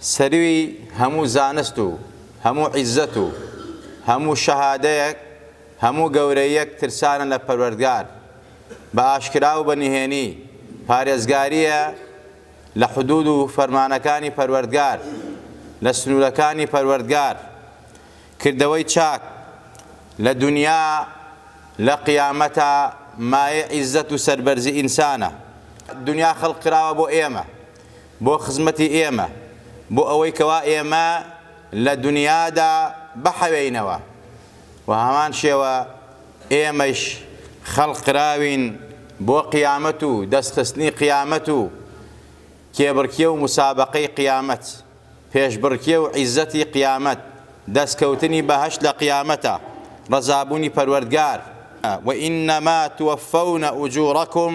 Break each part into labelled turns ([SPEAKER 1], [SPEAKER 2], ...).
[SPEAKER 1] سەروی هەموو زانست و هەموو عیززەت و هەموو شەهادەیەک هەموو گەورەییەک ترسانە لە پەروەردگار بە ئاشکرا و بە نهێنی پارێزگاریە لە حدود و فەرمانەکانی پەروەردگار لە سنورەکانی پەروەردگار کردەوەی چاک لە دونیا لە قیامەتا مایەی عیززەت و سەربەرزی ئینسانە دونیا خەلق کراوە بۆ ئێمە بۆ خزمەتی ئێمە، بۆ ئەوەی کەوا ئێمە لە دونیادا بحەوێینەوە و هەمان شێوە ئێمەیش خەڵق کراوین بۆ قیامەت و دەست خستنی قیامەت و کێبڕکێ و موسابەقەی قیامەت، پێشبڕکێ و عیزەتی قیامەت، دەست کەوتنی بەهەشت لە قیامەتە، ڕەزابوونی پەروەردگار. وانما توفون اجورکم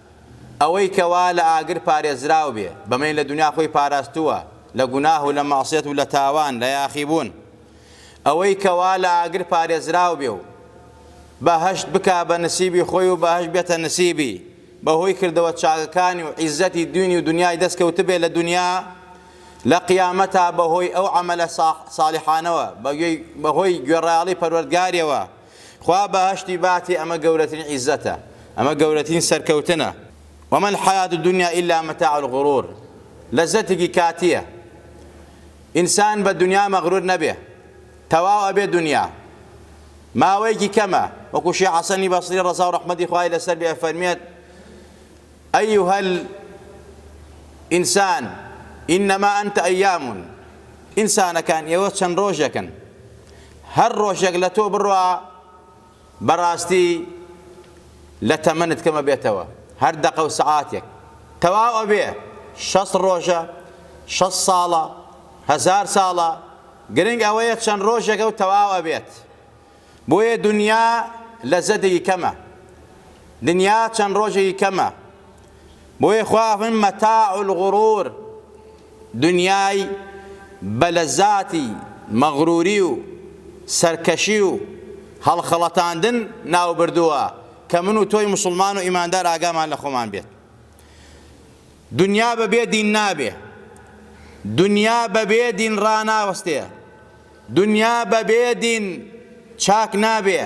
[SPEAKER 1] ئەوەی کە وا لە ئاگر پارێزراو بێ، بەمەی لە دونیا خۆی پاراستووە لە گوناه و لە مەعسیەت و لە تاوان، لە یاخیبوون. ئەوەی کە وا لە ئاگر پارێزراو بێ و بەهەشت بکا بە نسیبی خۆی و بەهەشت بێتە نسیبی، بە هۆی کردەوە چاکەکانی و عیززەتی دوینی و دونیای دەست کەوتبێ لە دونیا، لە قیامەتا بە هۆی ئەو عەمەلە ساڵحانەوە، بە هۆی گوێڕایەڵی پەروەردگاریەوە، خوا بەهەشتی باتێ ئەمە گەورەترین عیزەتە ئەمە گەورەترین سەرکەوتنە وما الحیات الدنیا الا متاع الغرور لەزەتێکی کاتیە ئینسان بە دنیا مەغرور نەبێ تەواو ئەبێ دنیا ماوەیەکی کەمە وەکو شێخ حەسەنی بەسری ڕەزا و ڕەحمەتی خوای لەسەر بێ فەرمێت أيها الإنسان إنما أنت أيام ئینسانەکان ئێوە چەند ڕۆژێکن هەر ڕۆژێک لە تۆ بڕوا بەڕاستی لە تەمەنت کەمە بێتەوە هەر دەقە و سەعاتێک تەواو ئەبێ شەست ڕۆژە شەست ساڵە هەزار ساڵە گرنگ ئەوەیە چەند ڕۆژێکە و تەواو ئەبێت بۆیە دنیا لە زەدەی کەمە دنیا چەند ڕۆژێکی کەمە بۆیە خوا فەرمووی مەتاع الغرور دنیای بە لەزاتی مەغروری و سەرکەشی و هەڵخەڵەتاندن ناوبردووە کە من و تۆی مسلمان و ئیماندار ئاگامان لە خۆمان بێت دنیا بەبێ دین نابێ دنیا بەبێ دین ڕاناوەستێ دونیا بە بێ دین چاک نابێ.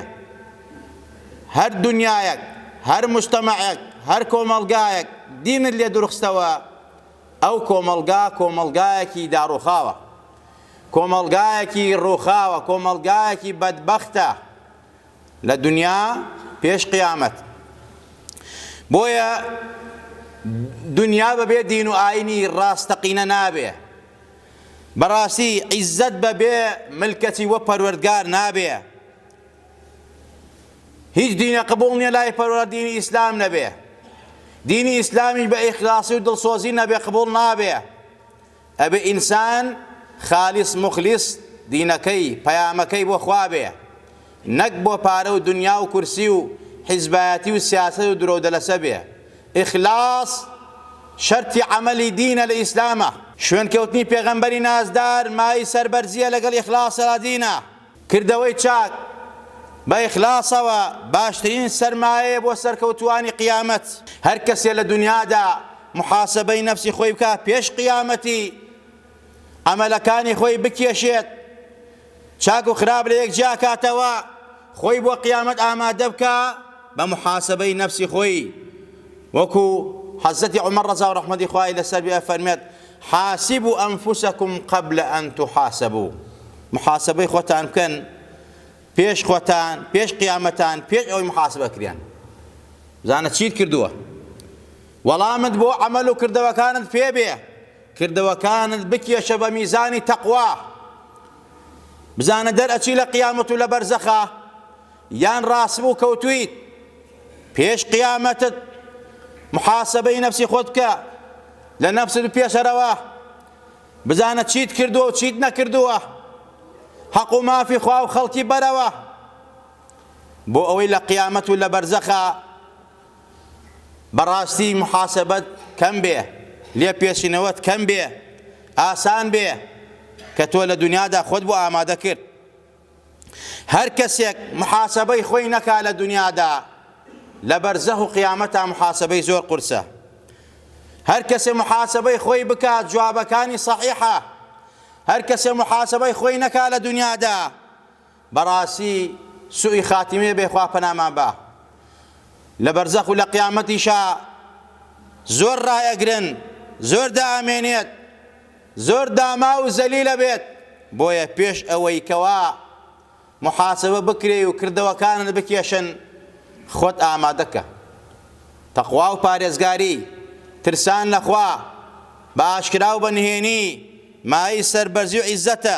[SPEAKER 1] هەر دونیایەک، هەر موجتەمەعێک، هەر کۆمەڵگایەک دینت لێ دورخستەوە، ئەو کۆمەڵگا کۆمەڵگایەکی داڕوخاوە. کۆمەڵگایەکی روخاوە، کۆمەڵگایەکی بەدبەختە لە دونیا پێش قیامەت. بۆیە دونیا بە بێ دین و ئاینی راستەقینە نابێ. بەڕاستی عیزەت بە بێ ملکەچی وە پەروەردگار نابێ هیچ دینە قبوڵ نیە لای پەروەر دینی ئیسلام نەبێ دینی ئیسلامیش بە ئیخلاسی و دڵسۆزی نەبێ قبوڵ نابێ ئەبێ ئینسان خالیس مخلیس دینەکەی پەیامەکەی بۆ خوا بێ نەک بۆ پارە و دونیا و کورسی و حیزبایەتی و سیاسەت و درۆو دەلەسە بێ اخلاص شەرتی عەمەلی دینە لە ئیسلامە. شوێن کەوتنی پێغەمبەری نازدار مایەی سەربەرزیە لەگەڵ اخلاص لە دینە. کردەوەی چاک بە اخلاصەوە باشترین سەرمایەیە بۆ سەرکەوتوانی قیامەت. هەر کەسێ لە دونیادا محاسەبەی نەفسی خۆی بکا پێش قیامەتی عەمەلەکانی خۆی بکێشێت. چاک و خراپ لەیەک جیاکاتەوە، خۆی بۆ قیامەت ئامادەبکا بە محاسەبەی نەفسی خۆی، وەکو حەزرەتی عومەر ڕەزاو ڕەحمەتی خوای لەسەر بێ ئەفەرمێت، حاسبو انفسکم قبل ان تحاسبو، محاسەبەی خۆتان بکەن پێش خۆتان پێش قیامەتان پێش ئەوەی محاسەبە کرێن بزانە چیت کردووە وەڵامت بۆ عەمەل و کردەوەکانت پێ بێ کردەوەکانت بکێشە بە میزانی تەقوا بزانە دەرئەچی لە قیامەت و لە بەرزەخا یان ڕاستبوو کەوتویت پێش قیامەتت محاسبەی نەفسی خۆت بکە لە نەفست بپێشەرەوە بزانە چیت کردووە و چیت نەکردووە حەق و مافی خوا و خەڵکی بەرەوە بۆ ئەوەی لە قیامەت و لە بەرزەخە بەڕاستی محاسەبەت کەم بێ لێپێچنەوەت کەم بێ ئاسان بێ کە تۆ لە دنیادا خۆت بۆ ئامادە کرد هەر کەسێک محاسەبەی خۆی نەکا لە دنیادا لە بەرزەه و قیامەتا محاسەبەی زۆر قورسە هەر کەسێ محاسەبەی خۆی بکات جوابەکانی صحیحە هەر کەسێ محاسەبەی خۆی نەکا لە دنیادا بەڕاسی سوئی خاتیمە بێ خوا پەنامان با لە بەرزەخ و لە قیامەتیشا زۆر ڕائەگرن زۆر دائەمێنێت زۆر داما و زەلیلە بێت بۆیە پێش ئەوەی کەوا محاسبە بکرێ و کردەوەکانت بکێشن خۆت ئامادەکە تەخوا و پارێزگاری ترسان لەخوا بە ئاشکرا و بە نهێنی مای سەربەرزی و عیزەتە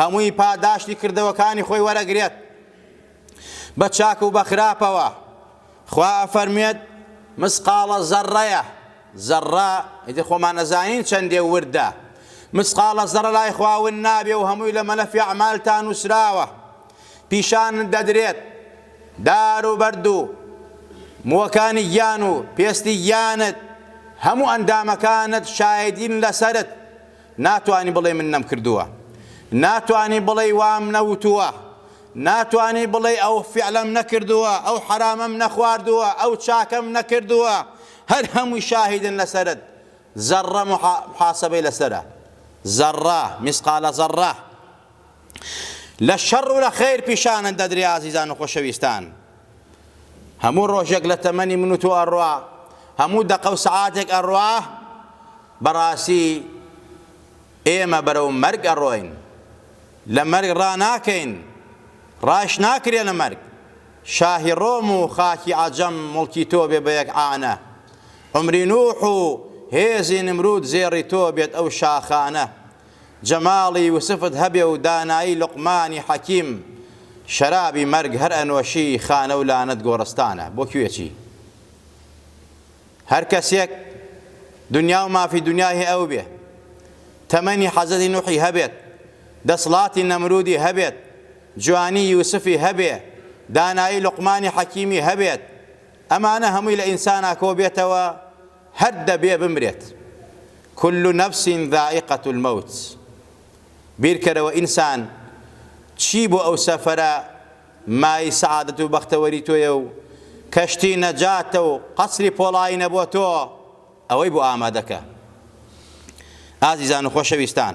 [SPEAKER 1] هەمووی پاداشتی کردەوەکانی خۆی وەرەگرێت بە چاک و بە خراپەوە خوا ئەفەرموێت مسقاڵە زەڕەیە زەڕە ئیتر خۆمان ئەزانین چەندێ وردە مسقاڵە زەڕە لای خواون نابێ و هەمووی لە مەلەفی عمالتان نووسراوە پیشان دەدرێت دار و بەرد و موەکانی گیان و پێستی گیانت هەموو ئەندامەکانت شایدین لەسرت ناتوانی بڵێی من نەمکردووە. ناتوانی بڵێی وام نەوتووە. ناتوانی بڵێی ئەو فیعلەم نەکردووە، ئەو حەرامەم نەخواردووە، ئەو چاکەم نەکردووە. هەر هەمووی شاهیدن لەسەرت. زەڕڕە موحاسەبەی لەسەرە. زەڕڕە، میسقالە زەڕڕە. لە شەڕ و لە خەیر پیشانت دەدرێ ئازیزان و خۆشەویستان هەموو ڕۆژێک لە تەمەنی من و تۆ ئەڕوا هەموو دەقە و سەعاتێک ئەڕوا بەڕاستی ئێمە بەرەو مەرگ ئەڕۆین لە مەرگ ڕاناکەین ڕاش ناکرێ لە مەرگ شاهی ڕۆم و خاکی عەجەم مڵکی تۆ بێ بە یەک عانە عمری نوح و هێزی نمرود زێڕی تۆ بێت ئەو شاخانە جەماڵی یوسفت هەبێ و دانایی لوقمانی حەکیم شەرابی مەرگ هەر ئەنۆشی خانە و لانەت گۆڕستانە بۆ کوێچی هەر کەسێک دنیا و مافی دنیای هی ئەو بێ تەمەنی حەزەتی نوحی هەبێت دەسڵاتی نەمرودی هەبێت جوانی یوسفی هەبێ دانایی لوقمانی حەکیمی هەبێت ئەمانە هەمووی لە ئینسانا کۆ بێتەوە هەر دەبێ بمرێت کل نفس ذائقە الموت بیرکەرەوە ئینسان چی بۆ ئەو سەفەرە مای سەعادەت و بەختەوەری تۆیە و کەشتی نەجاتە و قەسری پۆڵاینە بۆ تۆ ئەوەی بۆ ئامادەکە ئازیزان و خۆشەویستان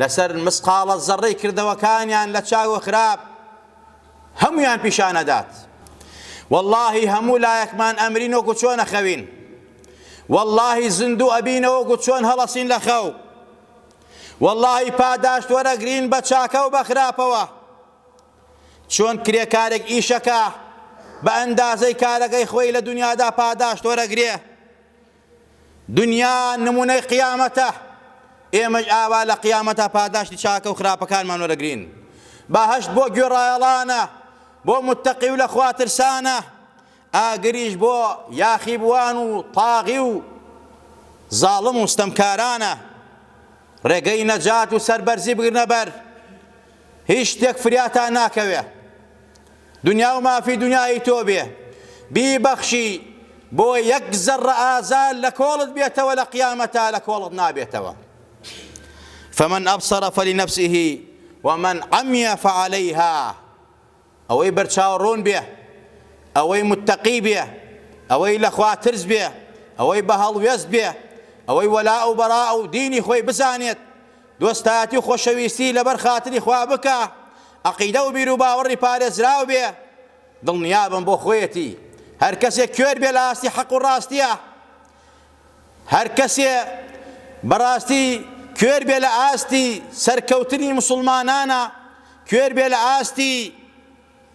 [SPEAKER 1] لەسەر مسقاڵە زەڕەی کردەوەکانیان لە چاک و خراپ هەموویان پیشان ئەدات واللەهی هەموو لایەکمان ئەمرین وەکو چۆن ئەخەوین واللەهی زیندوو ئەبینەوە وەکو چۆن هەڵەسین لە خەو واللەهی پاداشت وەرەگرین بە چاکە و بە خراپەوە چۆن کرێکارێک ئیشەکە بە ئەندازەی کارەکەی خۆی لە دنیادا پاداشت وەرەگرێ دنیا نمونەی قیامەتە، ئێمەش ئاوا لە قیامەتا پاداشتی چاکەو خراپەکانمان وەرەگرین. بەهەشت بۆ گوێڕایەڵانە، بۆ متەقی و لە خوا ترسانە، ئاگریش بۆ یاخیبوان و طاغی و زاڵم و ستەمکارانە. ڕێگەی نەجات و سەربەرزی بگرنە بەر، هیچ شتێک فریاتان ناکەوێ. دنیاو مافی دنیای تۆ بێ بیبەخشی بۆ یەک زەڕە ئازار لە کۆڵت بێتەوە لە قیامەتا لە کۆڵت نابێتەوە فمن ابصر فلنفسه ومن عمي فعليها ئەوەی بەرچاو ڕوون بێ ئەوەی متتەقی بێ ئەوەی لە خوا ترس بێ ئەوەی بە هەڵوێست بێ ئەوەی وەلا و بەرا و دینی خۆی بزانێت دۆستایەتی و خۆشەویستی لەبەر خاتری خوا بکە، عەقیدە و بیروباوەڕی پارێزراو بێ، دڵنیابم بۆ خۆیەتی، هەرکەسێ کوێر بێ لە ئاستی حەق و ڕاستیا، هەرکەسێ بە ڕاستی کوێر بێ لە ئاستی سەرکەوتنی موسڵمانانە، کوێر بێ لە ئاستی.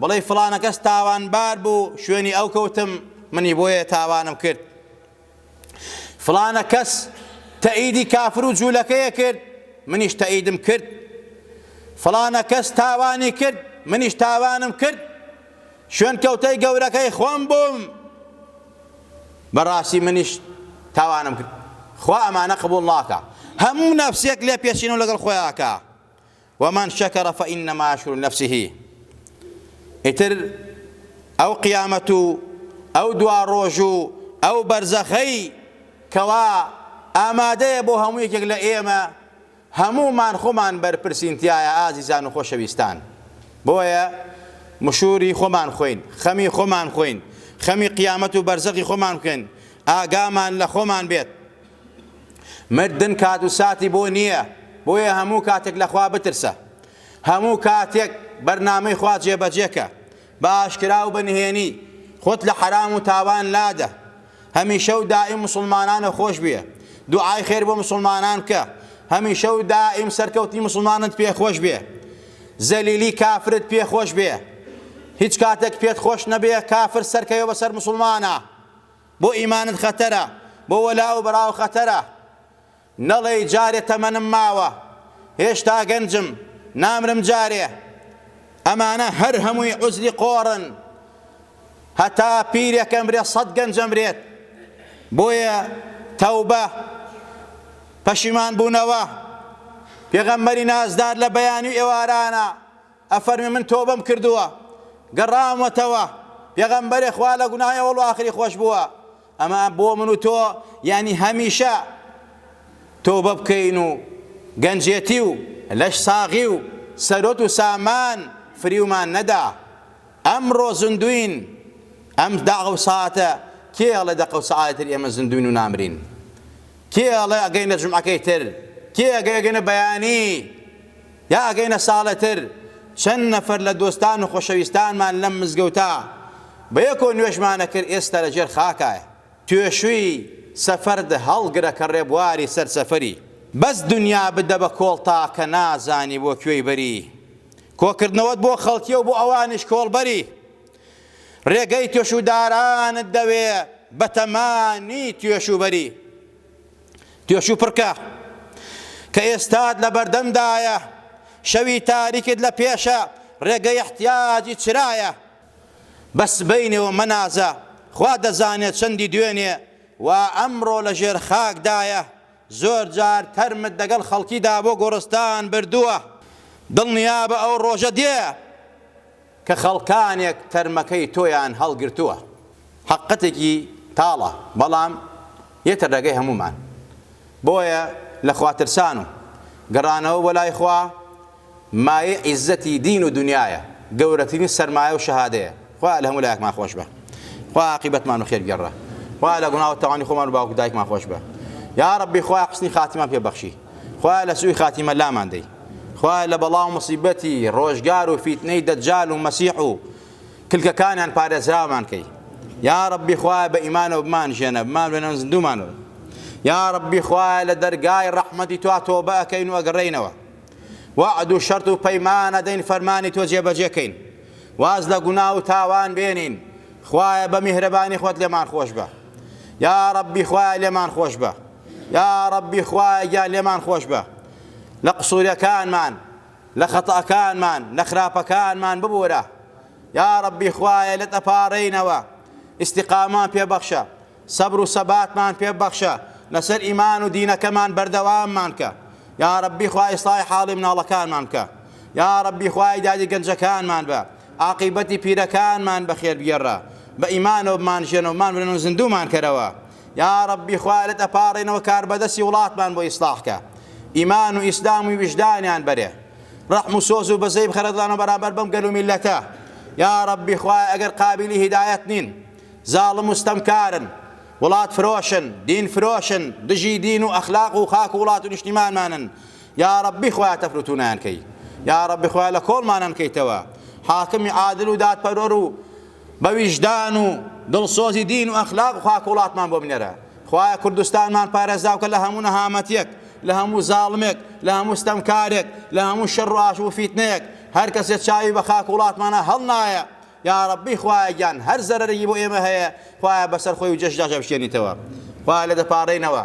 [SPEAKER 1] بڵێی فڵانە کەس تاوانبار بوو شوێنی ئەو کەوتم منی بۆیە تاوانم کرد فڵانە کەس تەئیدی کافر و جوولەکەیە کرد منیش تەئیدم کرد فڵانە کەس تاوانی کرد منیش تاوانم کرد شوێن کەوتەی گەورەکەی خۆم بووم بەڕاستی منیش تاوانم کرد خوا ئەمانە قبول ناکە هەموو نەفسێک لێ پێچین و لەگەڵ خۆیاکە ومن شکر فانما یشکر لنفسه ئیتر ئەو قیامەت و ئەو دواڕۆژ و ئەو بەرزەخەی کەوا ئامادەیە بۆ هەموو یەکێک لە ئێمە هەموومان خۆمان بەرپرسین تایە ئازیزان و خۆشەویستان بۆیە مشوری خۆمان خۆین خەمی خۆمان خۆین خەمی قیامەت و بەرزەخی خۆمان بکەین ئاگامان لە خۆمان بێت مردن کات و ساتی بۆ نییە، بۆیە هەموو کاتێک لە خوا بترسە. هەموو کاتێک بەرنامەی خوا جێبەجێکە، بە ئاشکرا و بە نهێنی، خۆت لە حەرام و تاوان لادە. هەمیشە و دائیم موسڵمانانە خۆش بوێ، دوعای خێر بۆ موسڵمانان بکە، هەمیشە و دائیم سەرکەوتنی موسڵمانت پێ خۆش بێ، زەلیلی کافرت پێ خۆش بێ. هیچ کاتێک پێت خۆش نەبێ کافر سەرکەوێ بەسەر موسڵمانا. بۆ ئیمانت خەتەرە بۆ وەلا و بەراو خەتەرە نەڵێی جارێ تەمەنم ماوە هێشتا گەنجم نامرم جارێ ئەمانە هەر هەمووی عوزری قۆڕن هەتا پیرێک ئەمرێ سەد گەنج ئەمرێت بۆیە تەوبە پەشیمان بوونەوە پێغەمبەری نازدار لە بەیانی و ئێوارانە ئەفەرمێ من تۆبەم کردووە گەڕاومەتەوە، پێغەمبەرێ خوا لە گوناهی ئەوەڵ و ئاخری خۆش بووە، ئەمە بۆ من و تۆ یانی هەمیشە تۆبە بکەین و گەنجێتی و لەش ساغی و سەروەت و سامان فریومان نەدا، ئەمڕۆ زندووین ئەم داغ و ساتە کێ ئەڵێ دەقەو سەعاتی تر ئێمە زندووین و نامرین؟ کێ ئەڵێ ئەگەینە جومعەکەی تر؟ کێ ئەگەینە بەیانی؟ یا ئەگەینە ساڵێتر چەند نەفەر لە دۆستان و خۆشەویستانمان لەم مزگەوتە بە یەکۆ نوێژمان ئەکرد ئێستا لە ژێر خاکایە توێشوی سەفەرد هەڵگرە کە ڕێبواری سەر سەفەری بەس دنیا بدە بە کۆڵ تاکە نازانی بۆ کوێی بەری کۆکردنەوەت بۆ خەڵکیەو بۆ ئەوانیش کۆڵبەری ڕێگەی توێشودارانت دەوێ بەتەمانی توێشوبەری توێشوپڕکە کە ئێستات لە بەردەمدایە شەوی تاریکت لە پێشە ڕێگەی احتیاجی چرایە بە سبەینێوە مەنازە خوا دەزانێ چەندی دوێنێ وا ئەمڕۆ لە ژێر خاکدایە زۆر جار تەرمت دەگەڵ خەڵکیدا بۆ گۆڕستان بردووە دڵنیابە ئەو ڕۆژە دێ کە خەڵکانێک تەرمەکەی تۆیان هەڵگرتووە حەققەتێکی تاڵە بەڵام یەتە ڕێگەی هەموومان بۆیە لە خواترسان و گەڕانەوە بۆ لای خوا مایەی عیزەتی دین و دونیایە گەورەترین سەرمایە و شەهادەیە خوا لە هەموو لایەکمان خۆشبە خوا عاقیبەتمان و خێرگێڕە خوا لە گوناو تاوانی خۆمان و باوک و دایکمان خۆشبە یاڕەبی خوا حوسنی خاتیمان پێ بەخشی. خوایە لە سوی خاتیمە لامان دەی خوایە لە بەڵا و مصیبەتی ڕۆژگار و فیتنەی دەجال و مەسیح و کلکەکانیان پارێزراومان کەی یا ربی خوایە بە ئیمانەوە بمان ژێنە بمان بێنەوە زندومانەوە یا ربی خوایە لە دەرگای ڕەحمەتی توا تۆبە ئەکەین و ئەگەڕێینەوە وعد و شەرت و پەیمانە دەین فەرمانی تۆ جێبەجێکەین واز لە گونا و تاوان بێنین خوایە بە میهرەبانی خۆت لێمان خۆش بە یا ربی خوایە لێمان خۆش بە یاڕەبی خوایە گیان لێمان خۆشبە لە قسورەکانمان لە خەتەکانمان لە خراپەکانمان ببورە یاڕەبی خوایە لێت ئەپاڕێینەوە ئیستیقامەمان پێ بەخشە سەبر و سەباتمان پێ بەخشە لەسەر ئیمان و دینەکەمان بەردەواممان کە یاڕەبی خوای ئیسڵاحی حاڵی مناڵەکانمان بکە یاڕەبی خوای دادی گەنجەکانمان بە عاقیبەتی پیرەکانمان بەخێر بگێڕە بە ئیمانەوە بمانژێنەوە بمانمرن و زیندوومان کەرەوە یاڕەبی خوا لەت ئەپاڕێنەوە کاربەدەسی وڵاتمان بۆ ئیسڵاح کە ئیمان و ئیسلام و ویژدانیان بەرێ ڕەحم و سۆز و بەزەی بخەرە دڵانەوە بەرامبەر بەم گەل و میلەتە یاڕەبی خوای ئەگەر قابلی هیدایەت نین زاڵم و ستەمکارن وڵات فرۆشن دین فرۆشن دژی دین و ئەخلاق و خاک و وڵات و نیشتیمانمانن یاڕەبی خوای تەفروتونیان کەی یاڕەبی خوای لە کۆڵمانان کەیتەوە حاکمی عادل و دادپەروەر و بە ویژدان و دڵسۆزی دین و ئەخلاق و خاک و وڵاتمان بۆ بنێرە خوایە کوردستانمان پارێزراوکە لە هەموو نەهامەتیەک لە هەموو زاڵمێک لە هەموو ستەمکارێک لە هەموو شەڕ و ئاش و فیتنەیەک هەر کەسێ چاوی بە خاک و وڵاتمانە هەڵنایە یاڕەبی خوایە گیان هەر زەرەرێکی بۆ ئێمە هەیە خوایە بەسەر خۆی و جەشدا جەبشکێنیتەوە خوایە لێ دەپاڕێینەوە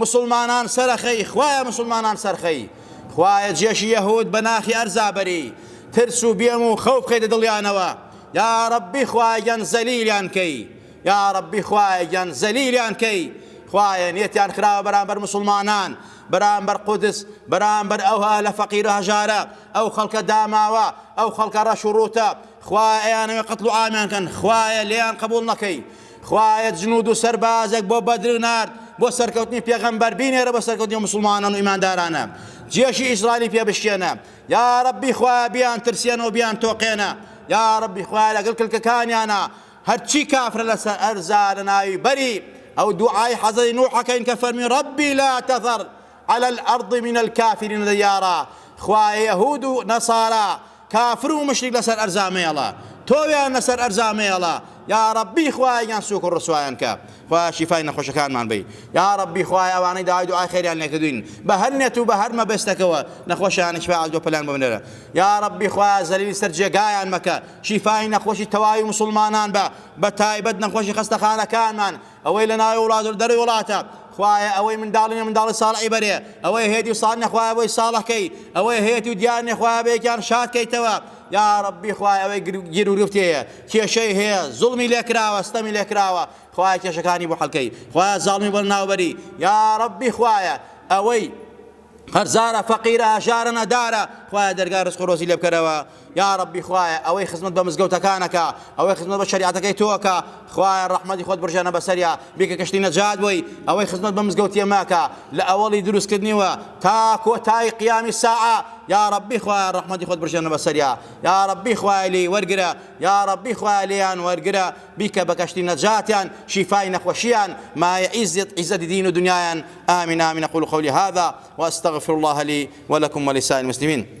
[SPEAKER 1] مسوڵمانان سەرەخەی خوایە مسوڵمانان سەرخەی خوایە جێشی یەهود بە ناخی ئەرزا بەری ترس و بێم و خەو بخەیتە دڵیانەوە یا ڕەبی خوایە گیان زەلیلیان کەی یا ڕەبی خوایە گیان زەلیلیان کەی خوایە نێتیان خراوە بەرامبەر مسوڵمانان بەرامبەر قودس بەرامبەر ئەو هەلە فەقیر و هەژارە ئەو خەڵکە داماوە ئەو خەڵکە ڕەش و ڕووتە خوایە ئەیانەوێ قەتڵ و عامیان کەن خوایە لێیان قبوڵ نەکەی خوایە جنود و سەربازێک بۆ بەدر نارد بۆ سەرکەوتنی پێغەمبەر بینێرە بۆ سەرکەوتنی موسڵمانان و ئیماندارانە جێشی ئیسرائیلی پێ بشکێنە یا ربی خوایە بیان ترسێنەوە بیان تۆقێنە یا ربی خوایە لەگەڵ کلکەکانیانە هەرچی کافرە لەسەر ئەرزا لە ناوی بەری ئەو دوعای حەزەی نوحەکەین کە فەرمی ربی لا تەذەر على الأرض من الكافرين ديارا خوایە یەهود و نەسارا کافر و موشریک لەسەر ئەرزا مەیەڵە تۆویان لەسەر ئەرزا مەیەڵە یاڕەبی خوایە گیان سوک و ڕسوایان کە خوایە شیفای نەخۆشەکانمان بەی یاڕەبی خوایە ئەوانەی داوای دوعای خێریان لێکردوین بە هەر نێت و بە هەر مەبەستەکەوە نەخۆشیان شفای عەجلۆ پەلیان بۆ بنێرە یاڕەبی خوایە زەلیلی سەر جێگایان مەکە شیفای نەخۆشی تەواوی موسڵمانان بە بە تایبەت نەخۆشی خەستەخانەکانمان ئەوەی لە ناوی وڵات و لە دەرەوەی وڵاتە، خوایە ئەوەی منداڵی نیە منداڵی ساڵحی بەرێ، ئەوەی هەیەتی و ساڵح نیە خوایە بۆی ساڵح کەی، ئەوەی هەیەتی و دیار نیە خوایە بەیەکیان شاد کەیتەوە، یا ربی خوایە ئەوەی گیروگرفتی هەیە کێشەی هەیە زوڵمی لێکراوە ستەمی لێکراوە خوایە کێشەکانی بۆ حەلکەی خوایە زاڵمی بۆ لەناوبەری یا ربی خوایە ئەوەی قەرزارە فەقیرە هەژارە نەدارە خوایە دەرگای رزق و رۆزی لێبکەرەوە یاڕەبی خوایە ئەوەی خزمەت بە مزگەوتەکان ئەکا ئەوەی خزمەت بە شەریعەتەکەی تۆ ئەکا خوایە ڕەحمەتی خۆت بڕژێنە بەسەریا بیکە کەشتی نەجات بۆی ئەوەی خزمەت بە مزگەوتی ئێمە ئەکا لە ئەوەڵی دروستکردنیوە تا کۆتایی قیامی ساعە یاڕەبی خوایە ڕەحمەتی خۆت بڕژێنە بەسەریا یاڕەبی خوایە لێی وەرگرە یاڕەبی خوایە لێیان وەرگرە بیکە بە کەشتی نەجاتیان شیفای نەخۆشیان مایە عیزت عیزەتی دین و دنیایان آمین آمین قول قولی هذا واستغفر الله لي ولكم ولسائر المسلمين